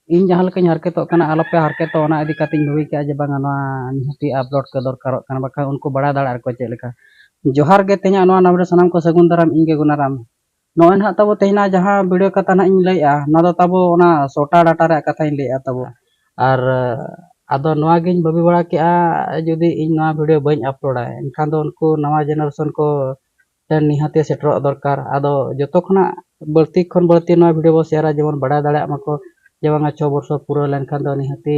ᱤᱧ ᱡᱟᱦᱟᱸ ᱞᱮᱠᱟᱧ ᱦᱟᱨᱠᱮᱛᱚᱜ ᱠᱟᱱᱟ ᱟᱞᱚᱯᱮ ᱦᱟᱨᱠᱮᱛᱚᱜᱼᱟ ᱚᱱᱟ ᱤᱫᱤ ᱠᱟᱛᱮᱫ ᱤᱧ ᱵᱷᱟᱹᱵᱤ ᱠᱮᱫᱼᱟ ᱡᱮ ᱵᱟᱝᱟ ᱱᱚᱣᱟ ᱱᱤᱦᱟᱹᱛᱤ ᱟᱯᱞᱳᱰ ᱠᱚ ᱫᱚᱨᱠᱟᱨᱚᱜ ᱠᱟᱱᱟ ᱵᱟᱠᱷᱟᱱ ᱩᱱᱠᱩ ᱵᱟᱲᱟᱭ ᱫᱟᱲᱮᱭᱟᱜᱼᱟ ᱠᱚ ᱪᱮᱫ ᱞᱮᱠᱟ ᱡᱚᱦᱟᱨ ᱜᱮ ᱛᱮᱦᱮᱧᱟᱜ ᱱᱚᱣᱟ ᱱᱟᱣᱟ ᱵᱷᱤᱰᱭᱳ ᱥᱟᱱᱟᱢ ᱠᱚ ᱥᱟᱹᱜᱩᱱ ᱫᱟᱨᱟᱢ ᱤᱧᱜᱮ ᱜᱩᱱᱟᱨᱟᱢ ᱱᱚᱜᱼᱚᱭ ᱱᱟᱦᱟᱜ ᱛᱟᱵᱚ ᱛᱮᱦᱮᱧᱟᱜ ᱡᱟᱦᱟᱸ ᱵᱷᱤᱰᱤᱭᱳ ᱠᱟᱛᱷᱟ ᱱᱟᱦᱟᱜ ᱤᱧ ᱞᱟᱹᱭᱮᱜᱼᱟ ᱱᱚᱣᱟ ᱫᱚ ᱛᱟᱵᱚ ᱚᱱᱟ ᱥᱚᱴᱟ ᱰᱟᱴᱟ ᱨᱮᱭᱟᱜ ᱠᱟᱛᱷᱟᱧ ᱞᱟᱹᱭᱮᱜᱼᱟ ᱛᱟᱵᱚ ᱟᱨ ᱟᱫᱚ ᱱᱚᱣᱟ ᱜᱤᱧ ᱵᱷᱟᱹᱵᱤ ᱵᱟᱲᱟ ᱠᱮᱜᱼᱟ ᱡᱩᱫᱤ ᱤᱧ ᱱᱚᱣᱟ ᱵᱷᱤᱰᱤᱭᱳ ᱵᱟᱹᱧ ᱟᱯᱞᱳᱰᱟ ᱮᱱᱠᱷᱟᱱ ᱫᱚ ᱩᱱᱠᱩ ᱱᱟᱣᱟ ᱡᱮᱱᱟᱨᱮᱥᱚᱱ ᱠᱚ ᱴᱷᱮᱱ ᱱᱤᱦᱟᱹᱛᱤ ᱥᱮᱴᱮᱨᱚᱜ ᱫᱚᱨᱠᱟᱨ ᱟᱫᱚ ᱡᱚᱛᱚ ᱠᱷᱚᱱᱟᱜ ᱵᱟᱹᱲᱛᱤ ᱠᱷᱚᱱ ᱵᱟᱹᱲᱛᱤ ᱱᱚᱣᱟ ᱵᱷᱤᱰᱤᱭᱳ ᱵᱚᱱ ᱥᱮᱭᱟᱨᱟ ᱡᱮᱢᱚᱱ ᱵᱟᱰᱟᱭ ᱫᱟᱲᱮᱭᱟᱜ ᱢᱟᱠᱚ ᱡᱮ ᱵᱟᱝᱟ ᱪᱷᱚ ᱵᱚᱪᱷᱚᱨ ᱯᱩᱨᱟᱹᱣ ᱞᱮᱱᱠᱷᱟᱱ ᱫᱚ ᱱᱤᱦᱟᱹᱛᱤ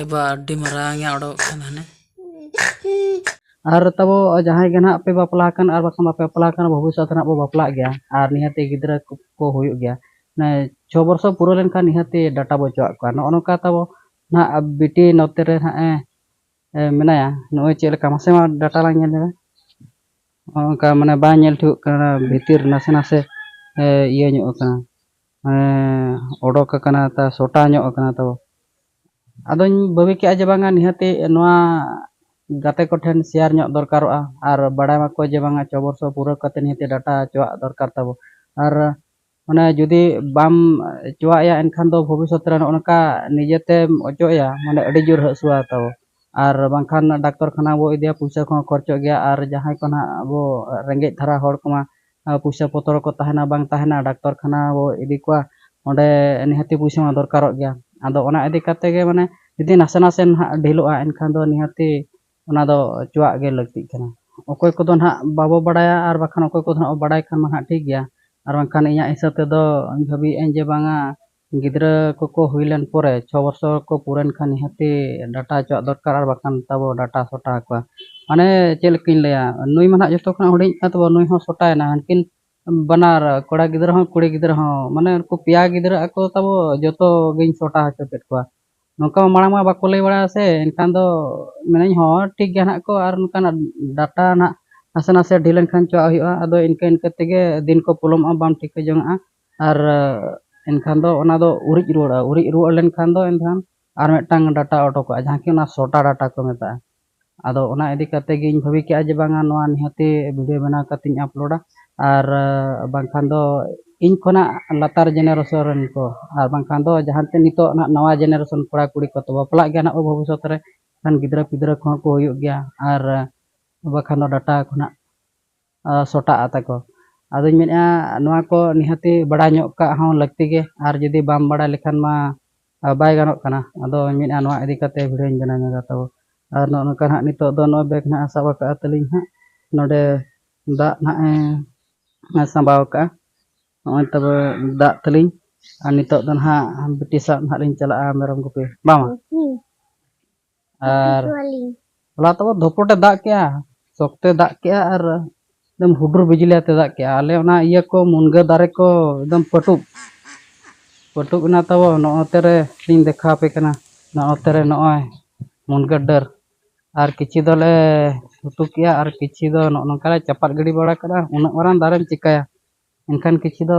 ᱮᱵᱟ ᱟᱹᱰᱤ ᱢᱟᱨᱟᱝ ᱮ ᱚᱰᱚᱠ ᱠᱟᱱᱟ ᱦᱟᱱᱮ ᱟᱨ ᱛᱟᱵᱚ ᱡᱟᱦᱟᱸᱭ ᱜᱮ ᱱᱟᱦᱟᱜ ᱯᱮ ᱵᱟᱯᱞᱟ ᱟᱠᱟᱱ ᱟᱨ ᱵᱟᱠᱷᱟᱱ ᱵᱟᱯᱮ ᱵᱟᱯᱞᱟ ᱟᱠᱟᱱ ᱵᱷᱚᱵᱤᱥᱥᱚᱛ ᱨᱮ ᱵᱚ ᱵᱟᱯᱞᱟᱜ ᱜᱮᱭᱟ ᱟᱨ ᱱᱤᱦᱟᱹᱛᱤ ᱜᱤᱫᱽᱨᱟᱹ ᱠᱚ ᱦᱩᱭᱩᱜ ᱜᱮᱭᱟ ᱢᱟᱱᱮ ᱪᱷᱚ ᱵᱚᱨᱥᱚ ᱯᱩᱨᱟᱹᱣ ᱞᱮᱱᱠᱷᱟᱱ ᱱᱤᱦᱟᱹᱛᱤ ᱰᱟᱴᱟ ᱵᱚ ᱚᱪᱚᱣᱟᱜ ᱠᱚᱣᱟ ᱱᱚᱜᱼᱚ ᱱᱚᱝᱠᱟ ᱛᱟᱵᱚ ᱱᱟᱦᱟᱜ ᱵᱤᱴᱤ ᱱᱚᱛᱮ ᱨᱮ ᱱᱟᱦᱟᱜ ᱮ ᱢᱮᱱᱟᱭᱟ ᱱᱚᱜᱼᱚᱭ ᱪᱮᱫ ᱞᱮᱠᱟ ᱢᱟᱥᱮ ᱢᱟ ᱰᱟᱴᱟ ᱞᱟᱝ ᱧᱮᱞ ᱧᱚᱜᱟ ᱱᱚᱜᱼᱚ ᱱᱚᱝᱠᱟ ᱢᱟᱱᱮ ᱵᱟᱝ ᱧᱮᱞ ᱴᱷᱤᱠᱚᱜ ᱠᱟᱱᱟ ᱵᱷᱤᱛᱤᱨ ᱱᱟᱥᱮ ᱱᱟᱥᱮ ᱤᱭᱟᱹ ᱧᱚᱜ ᱟᱠᱟᱱᱟ ᱢᱟᱱᱮ ᱚᱰᱚᱠ ᱟᱠᱟᱱᱟ ᱛᱟ ᱥᱚᱴᱟ ᱧᱚᱜ ᱟᱠᱟᱱᱟ ᱛᱚ ᱟᱫᱚᱧ ᱵᱷᱟᱹᱵᱤ ᱠᱮᱜᱼᱟ ᱡᱮ ᱵᱟᱝᱟ ᱱᱤᱦᱟᱹᱛᱤ ᱱᱚᱣᱟ ᱜᱟᱛᱮ ᱠᱚᱴᱷᱮᱱ ᱥᱮᱭᱟᱨ ᱧᱚᱜ ᱫᱚᱨᱠᱟᱨᱚᱜᱼᱟ ᱟᱨ ᱵᱟᱲᱟᱭ ᱢᱟᱠᱚ ᱡᱮ ᱵᱟᱝᱟ ᱪᱷᱚ ᱵᱚᱨᱥᱚ ᱯᱩᱨᱟᱹᱣ ᱠᱟᱛᱮᱫ ᱱᱤᱦᱟᱹᱛᱤ ᱰᱟᱴᱟ ᱦᱚᱪᱚᱣᱟᱜ ᱫᱚᱨᱠᱟᱨ ᱛᱟᱵᱚ ᱟᱨ ᱢᱟᱱᱮ ᱡᱩᱫᱤ ᱵᱟᱢ ᱦᱚᱪᱚᱣᱟᱭᱟ ᱮᱱᱠᱷᱟᱱ ᱫᱚ ᱵᱷᱚᱵᱤᱥᱥᱚᱛ ᱨᱮ ᱱᱚᱜᱼᱚ ᱱᱚᱝᱠᱟ ᱱᱤᱡᱮᱛᱮᱢ ᱚᱪᱚᱜ ᱮᱭᱟ ᱢᱟᱱᱮ ᱟᱹᱰᱤ ᱡᱳᱨ ᱦᱟᱹᱥᱩᱣᱟ ᱛᱟᱵᱚ ᱟᱨ ᱵᱟᱝᱠᱷᱟᱱ ᱰᱟᱠᱛᱚᱨ ᱠᱷᱟᱱᱟ ᱵᱚ ᱤᱫᱤᱭᱟ ᱯᱩᱭᱥᱟᱹ ᱠᱚᱦᱚᱸ ᱠᱷᱚᱨᱪᱚᱜ ᱜᱮᱭᱟ ᱟᱨ ᱡᱟᱦᱟᱸᱭ ᱠᱚ ᱱᱟᱦᱟᱜ ᱟᱵᱚ ᱨᱮᱸᱜᱮᱡ ᱫᱷᱟᱨᱟ ᱦᱚᱲ ᱠᱚᱢᱟ ᱯᱩᱭᱥᱟᱹ ᱯᱚᱛᱨᱚ ᱠᱚ ᱛᱟᱦᱮᱱᱟ ᱵᱟᱝ ᱛᱟᱦᱮᱱᱟ ᱰᱟᱠᱛᱚᱨ ᱠᱷᱟᱱᱟ ᱵᱚ ᱤᱫᱤ ᱠᱚᱣᱟ ᱚᱸᱰᱮ ᱱᱤᱦᱟᱹᱛᱤ ᱯᱩᱭᱥᱟᱹ ᱢᱟ ᱫᱚᱨᱠᱟᱨᱚᱜ ᱜᱮᱭᱟ ᱟᱫᱚ ᱚᱱᱟ ᱤᱫᱤ ᱠᱟᱛᱮ ᱜᱮ ᱢᱟᱱᱮ ᱡᱩᱫᱤ ᱱᱟᱥᱮ ᱱᱟᱥᱮ ᱱᱟᱦᱟᱜ ᱰᱷᱤᱞᱚᱜᱼᱟ ᱮᱱᱠᱷᱟᱱ ᱫᱚ ᱱᱤᱦᱟᱹᱛᱤ ᱚᱱᱟ ᱫᱚ ᱚᱪᱚᱣᱟᱜ ᱜᱮ ᱞᱟᱹᱠᱛᱤᱜ ᱠᱟᱱᱟ ᱚᱠᱚᱭ ᱠᱚᱫᱚ ᱱᱟᱦᱟᱜ ᱵᱟᱵᱚ ᱵᱟᱲᱟᱭᱟ ᱟᱨ ᱵᱟᱠᱷᱟᱱ ᱚᱠᱚᱭ ᱠᱚᱫᱚ ᱱᱟᱦᱟᱜ ᱵᱚ ᱵᱟᱲᱟᱭ ᱠᱷᱟᱱ ᱢᱟ ᱱᱟᱦᱟᱜ ᱴᱷᱤᱠ ᱜᱮᱭᱟ ᱟᱨ ᱵᱟᱝᱠᱷᱟᱱ ᱤᱧᱟᱹᱜ ᱦᱤᱥᱟᱹᱵ ᱛᱮᱫᱚ ᱤᱧ ᱵᱷᱟᱹᱵᱤᱭᱮᱫᱼᱟᱹᱧ ᱡᱮ ᱵᱟᱝᱟ ᱜᱤᱫᱽᱨᱟᱹ ᱠᱚᱠᱚ ᱦᱩᱭ ᱞᱮᱱ ᱯᱚᱨᱮ ᱪᱷᱚ ᱵᱚᱪᱷᱚᱨ ᱠᱚ ᱯᱩᱨᱟᱹᱣ ᱮᱱ ᱠᱷᱟᱱ ᱱᱤᱦᱟᱹᱛᱤ ᱰᱟᱴᱟ ᱦᱚᱪᱚᱣᱟᱜ ᱫᱚᱨᱠᱟᱨ ᱟᱨ ᱵᱟᱠᱷᱟᱱ ᱛᱟᱵᱚ ᱰᱟᱴᱟ ᱥᱚᱴᱟ ᱟᱠᱚᱣᱟ ᱢᱟᱱᱮ ᱪᱮᱫ ᱞᱮᱠᱟᱧ ᱞᱟᱹᱭᱟ ᱱᱩᱭ ᱢᱟ ᱦᱟᱸᱜ ᱡᱚᱛᱚ ᱠᱷᱚᱱᱟᱜ ᱦᱩᱰᱤᱧᱤᱡ ᱠᱟᱱ ᱛᱟᱵᱚᱱ ᱱᱩᱭ ᱦᱚᱸ ᱥᱚᱴᱟᱭᱮᱱᱟ ᱦᱟᱹᱱᱠᱤᱱ ᱵᱟᱱᱟᱨ ᱠᱚᱲᱟ ᱜᱤᱫᱽᱨᱟᱹ ᱦᱚᱸ ᱠᱩᱲᱤ ᱜᱤᱫᱽᱨᱟᱹ ᱦᱚᱸ ᱢᱟᱱᱮ ᱩᱱᱠᱩ ᱯᱮᱭᱟ ᱜᱤᱫᱽᱨᱟᱹ ᱟᱠᱚ ᱛᱟᱵᱚ ᱡᱚᱛᱚ ᱜᱤᱧ ᱥᱚᱴᱟ ᱦᱚᱪᱚ ᱠᱮᱫ ᱠᱚᱣᱟ ᱱᱚᱝᱠᱟ ᱢᱟ ᱢᱟᱲᱟᱝ ᱢᱟ ᱵᱟᱠᱚ ᱞᱟᱹᱭ ᱵᱟᱲᱟᱭᱟ ᱥᱮ ᱮᱱᱠᱷᱟᱱ ᱫᱚ ᱢᱮᱱᱟᱹᱧ ᱦᱚᱸ ᱴᱷᱤᱠ ᱜᱮᱭᱟ ᱦᱟᱸᱜ ᱠᱚ ᱟᱨ ᱱᱚᱝᱠᱟᱱᱟᱜ ᱰᱟᱴᱟ ᱦᱟᱸᱜ ᱱᱟᱥᱮ ᱱᱟᱥᱮ ᱰᱷᱤᱞᱟᱹ ᱞᱮᱱᱠᱷᱟᱱ ᱪᱚᱣᱟᱜ ᱦᱩᱭᱩᱜᱼᱟ ᱟᱫᱚ ᱤᱱᱠᱟᱹ ᱤᱱᱠᱟᱹ ᱛᱮᱜᱮ ᱫᱤᱱ ᱠᱚ ᱯᱚᱞᱚᱢᱚᱜᱼᱟ ᱵᱟᱢ ᱴᱷᱤᱠᱟᱹ ᱡᱚᱱᱟᱜᱼᱟ ᱟᱨ ᱮᱱᱠᱷᱟᱱ ᱫᱚ ᱚᱱᱟ ᱫᱚ ᱩᱨᱤᱡ ᱨᱩᱣᱟᱹᱲᱚᱜᱼᱟ ᱩᱨᱤᱡ ᱨᱩᱣᱟᱹᱲ ᱞᱮᱱᱠᱷᱟᱱ ᱫᱚ ᱮᱱᱠᱷᱟᱱ ᱟᱨ ᱢᱤᱫᱴᱟᱝ ᱰᱟᱴᱟ ᱚᱰᱚᱠᱚᱜᱼᱟ ᱡᱟᱦᱟᱸ ᱠᱤ ᱚᱱᱟ ᱥᱚᱴᱟ ᱰᱟᱴᱟ ᱠᱚ ᱢᱮᱛᱟᱜᱼᱟ ᱟᱫᱚ ᱚᱱᱟ ᱤᱫᱤ ᱠᱟᱛᱮᱫ ᱜᱮᱧ ᱵᱷᱟᱹᱵᱤ ᱠᱮᱫᱼᱟ ᱡᱮ ᱵᱟᱝᱟ ᱱᱚᱣᱟ ᱱᱤᱦᱟᱹᱛᱤ ᱵᱷᱤᱰᱭᱳ ᱵᱮᱱᱟᱣ ᱠᱟᱛᱮᱫ ᱤᱧ ᱟᱯᱞᱳᱰᱟ ᱟᱨ ᱵᱟᱝᱠᱷᱟᱱ ᱫᱚ ᱤᱧ ᱠᱷᱚᱱᱟᱜ ᱞᱟᱛᱟᱨ ᱡᱮᱱᱟᱨᱮᱥᱚᱱ ᱨᱮᱱ ᱠᱚ ᱟᱨ ᱵᱟᱝᱠᱷᱟᱱ ᱫᱚ ᱡᱟᱦᱟᱸ ᱛᱤᱱ ᱱᱤᱛᱚᱜ ᱦᱟᱸᱜ ᱱᱟᱣᱟ ᱡᱮᱱᱟᱨᱮᱥᱚᱱ ᱠᱚᱲᱟ ᱠᱩᱲᱤ ᱠᱚ ᱵᱟᱯᱞᱟᱜ ᱜᱮᱭᱟ ᱦᱟᱸᱜ ᱵᱷᱚᱵᱤᱥᱥᱚᱛ ᱨᱮ ᱮᱱᱠᱷᱟᱱ ᱜᱤᱫᱽᱨᱟᱹ ᱯᱤᱫᱽᱨᱟᱹ ᱠᱚᱦᱚᱸ ᱠᱚ ᱦᱩᱭᱩᱜ ᱜᱮᱭᱟ ᱟᱨ ᱵᱟᱠᱷᱟᱱ ᱫᱚ ᱰᱟᱴᱟ ᱠᱷᱚᱱᱟᱜ ᱥᱚᱴᱟᱜᱼᱟ ᱛᱟᱠᱚ ᱟᱫᱚᱧ ᱢᱮᱱᱮᱫᱼᱟ ᱱᱚᱣᱟ ᱠᱚ ᱱᱤᱦᱟᱹᱛᱤ ᱵᱟᱲᱟᱭ ᱧᱚᱜ ᱠᱟᱜ ᱦᱚᱸ ᱞᱟᱹᱠᱛᱤ ᱜᱮ ᱟᱨ ᱡᱩᱫᱤ ᱵᱟᱢ ᱵᱟᱲᱟᱭ ᱞᱮᱠᱷᱟᱱ ᱢᱟ ᱵᱟᱭ ᱜᱟᱱᱚᱜ ᱠᱟᱱᱟ ᱟᱫᱚᱧ ᱢᱮᱱᱮᱫᱼᱟ ᱱᱚᱣᱟ ᱤᱫᱤ ᱠᱟᱛᱮᱫ ᱵᱷᱤᱰᱭᱳᱧ ᱵᱮᱱᱟᱣ ᱧᱚᱜᱟ ᱛᱟᱵᱚ ᱟᱨ ᱱᱚᱜᱼᱚ ᱱᱚᱝᱠᱟ ᱦᱟᱸᱜ ᱱᱤᱛᱚᱜ ᱫᱚ ᱱᱚᱜᱼᱚᱭ ᱵᱮᱜᱽ ᱦᱟᱸᱜ ᱥᱟᱵ ᱟᱠᱟᱫ ᱛᱟᱹᱞᱤᱧ ᱦᱟᱸᱜ ᱱᱚᱰᱮ ᱫᱟᱜ ᱦᱟᱸᱜ ᱮ ᱥᱟᱢᱵᱟᱣ ᱟᱠᱟᱫᱼᱟ ᱱᱚᱜᱼᱚᱭ ᱛᱚᱵᱮ ᱫᱟᱜ ᱛᱟᱹᱞᱤᱧ ᱟᱨ ᱱᱤᱛᱚᱜ ᱫᱚ ᱦᱟᱸᱜ ᱵᱤᱴᱤ ᱥᱟᱵ ᱦᱟᱸᱜ ᱞᱤᱧ ᱪᱟᱞᱟᱜᱼᱟ ᱢᱮᱨᱚᱢ ᱜᱩᱯᱤ ᱵᱟᱝ ᱟᱨ ᱦᱚᱞᱟ ᱛᱚ ᱫᱷᱚᱯᱚᱴᱮ ᱫᱟᱜ ᱠᱮᱜᱼᱟ ᱥᱚᱠᱛᱮ ᱫᱟᱜ ᱠᱮᱜᱼᱟ ᱟᱨ ᱮᱠᱫᱚᱢ ᱦᱩᱰᱩᱨ ᱵᱤᱡᱽᱞᱤ ᱟᱛᱮ ᱫᱟᱜ ᱠᱮᱜᱼᱟ ᱟᱞᱮ ᱚᱱᱟ ᱤᱭᱟᱹ ᱠᱚ ᱢᱩᱱᱜᱟᱹ ᱫᱟᱨᱮ ᱠᱚ ᱮᱠᱫᱚᱢ ᱯᱟᱹᱴᱩᱵ ᱯᱟᱹᱴᱩᱵ ᱮᱱᱟ ᱛᱟᱵᱚ ᱱᱚᱜᱼᱚ ᱛᱮᱨᱮ ᱞᱤᱧ ᱫᱮᱠᱷᱟᱣ ᱟᱯᱮ ᱠᱟᱱᱟ ᱱᱚᱜᱼᱚ ᱛᱮᱨᱮ ᱱᱚᱜᱼᱚᱭ ᱢᱩᱱᱜᱟᱹ ᱰᱟᱹᱨ ᱟᱨ ᱠᱤᱪᱷᱩ ᱫᱚᱞᱮ ᱩᱛᱩ ᱠᱮᱜᱼᱟ ᱟᱨ ᱠᱤᱪᱷᱩ ᱫᱚ ᱱᱚᱜᱼᱚ ᱱᱚᱝᱠᱟ ᱞᱮ ᱪᱟᱯᱟᱫ ᱜᱤᱰᱤ ᱵᱟᱲᱟ ᱠᱟᱜᱼᱟ ᱩᱱᱟᱹᱜ ᱢᱟᱨᱟᱝ ᱫᱟᱨᱮᱢ ᱪᱤᱠᱟᱹᱭᱟ ᱮᱱᱠᱷᱟᱱ ᱠᱤᱪᱷᱩ ᱫᱚ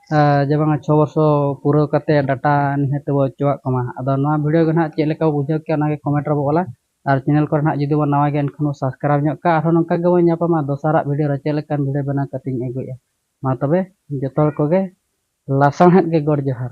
ᱡᱮ ᱵᱟᱝᱟ ᱪᱷᱚ ᱵᱚᱨᱥᱚ ᱯᱩᱨᱟᱹᱣ ᱠᱟᱛᱮ ᱰᱟᱴᱟ ᱱᱤᱦᱟᱹᱛ ᱵᱚ ᱚᱪᱚᱣᱟᱜ ᱠᱟᱱᱟ ᱟᱫᱚ ᱱᱚᱣᱟ ᱵᱷᱤᱰᱤᱭᱳ ᱜᱮ ᱱᱟᱦᱟᱜ ᱪᱮᱫ ᱞᱮᱠᱟ ᱵᱚ ᱵᱩᱡᱷᱟᱹᱣ ᱠᱮᱜᱼᱟ ᱚᱱᱟᱜᱮ ᱠᱚᱢᱮᱱᱴ ᱨᱮᱵᱚ ᱚᱞᱟ ᱟᱨ ᱪᱮᱱᱮᱞ ᱠᱚᱨᱮ ᱱᱟᱦᱟᱜ ᱡᱩᱫᱤ ᱵᱚᱱ ᱱᱟᱣᱟ ᱜᱮᱭᱟ ᱮᱱᱠᱷᱟᱱ ᱵᱚ ᱥᱟᱵᱥᱠᱨᱟᱭᱤᱵᱽ ᱧᱚᱜ ᱠᱟᱜᱼᱟ ᱟᱨᱦᱚᱸ ᱱᱚᱝᱠᱟ ᱜᱮᱵᱚᱱ ᱧᱟᱯᱟᱢᱟ ᱫᱚᱥᱟᱨᱟᱜ ᱵᱷᱤᱰᱤᱭᱳ ᱨᱮ ᱪᱮᱫ ᱞᱮᱠᱟᱱ ᱵᱷᱤᱰᱤᱭᱳ ᱵᱮᱱᱟᱣ ᱠᱟᱛᱮᱧ ᱟᱹᱜᱩᱭᱮᱜᱼᱟ ᱢᱟ ᱛᱚᱵᱮ ᱡᱚᱛᱚ ᱦᱚᱲ ᱠᱚᱜᱮ ᱞᱟᱥᱟᱬᱦᱮᱫ ᱜᱮ ᱜᱚᱰ ᱡᱚᱦᱟᱨ